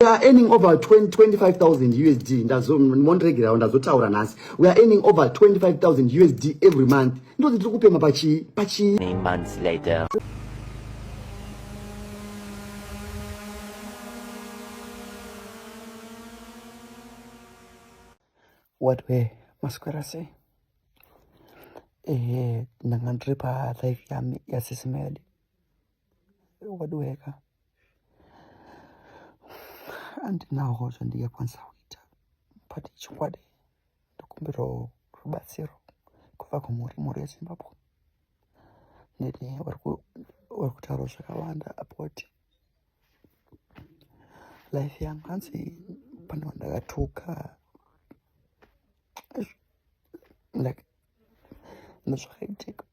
we are earning over 25000 usd ndazomondiregerawo ndazotaura nhasi we are earning over 25000 usd every month ndozi tiri kupema pachii pachii what were maswera sei ehe ndanga ndiri palife yami yasisimele wadiweka andinawo zvandingakwanisa kuita but chokwadi ndikumbirawo rubatsiro kubva kumhuri mhuri yezimbabwe neni vari kutaura zvakawanda about life yangu hanzi pane vandakatuka like nezvakaitika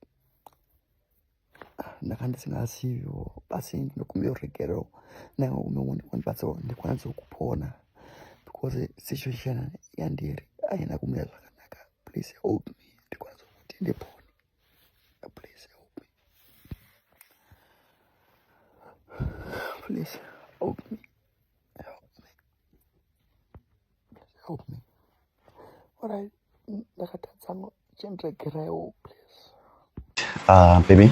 ndanga ndisingazivo asi ndinokumbira ruregero ndanga kumeoni kwandibatsirwa ndikwanise kupona because situation yandiri haina kumira zvakanaka please help me ndikwanise kuti ndipone please help me please help me help me orai ndakatadza chendiregeraiwo please uh, baby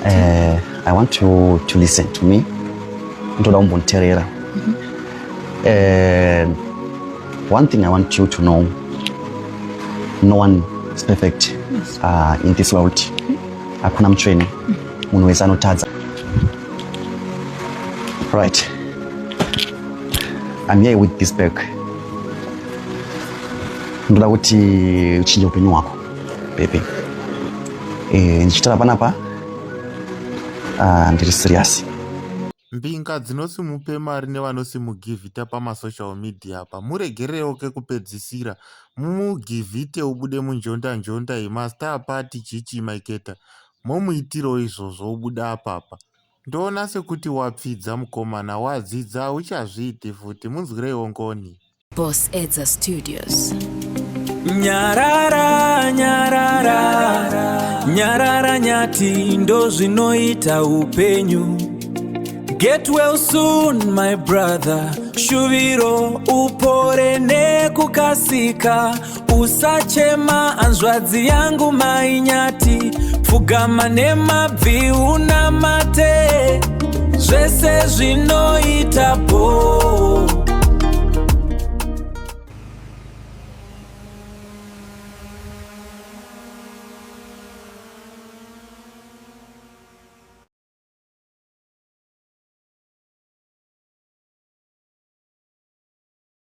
uh, i want to, to listen to me ndoda kumbonditerera mm-hmm. uh, one thing i want you to know no one is perfect uh, in this world mm-hmm. hakuna mutsvene mm-hmm. munhu wese anotadza Right. I'm here with this bag. Ndoda kuti uchinje upenyu hwako, baby. Eh, ndichitara panapa. Ah, ndiri serious. Mbinga dzinosimupe mari nevanosimugiviita pamasocial media apa muregererewo kekupedzisira mumugivhite ubude munjondanjonda iyi mastar party chichi maiketa momuitirawo izvozvo obuda apapa ndoona sekuti wapfidza mukomana wadzidza uchazviiti futi munzwireiwo ngoni boss edza studios nyarara nyarara nyarara nyati ndozvinoita upenyu get well soon my brother shuviro upore nekukasika Usachema hanzvadzi yangu mainyati, pfugama nemabvi unamate, zvese zvinoita bhoo.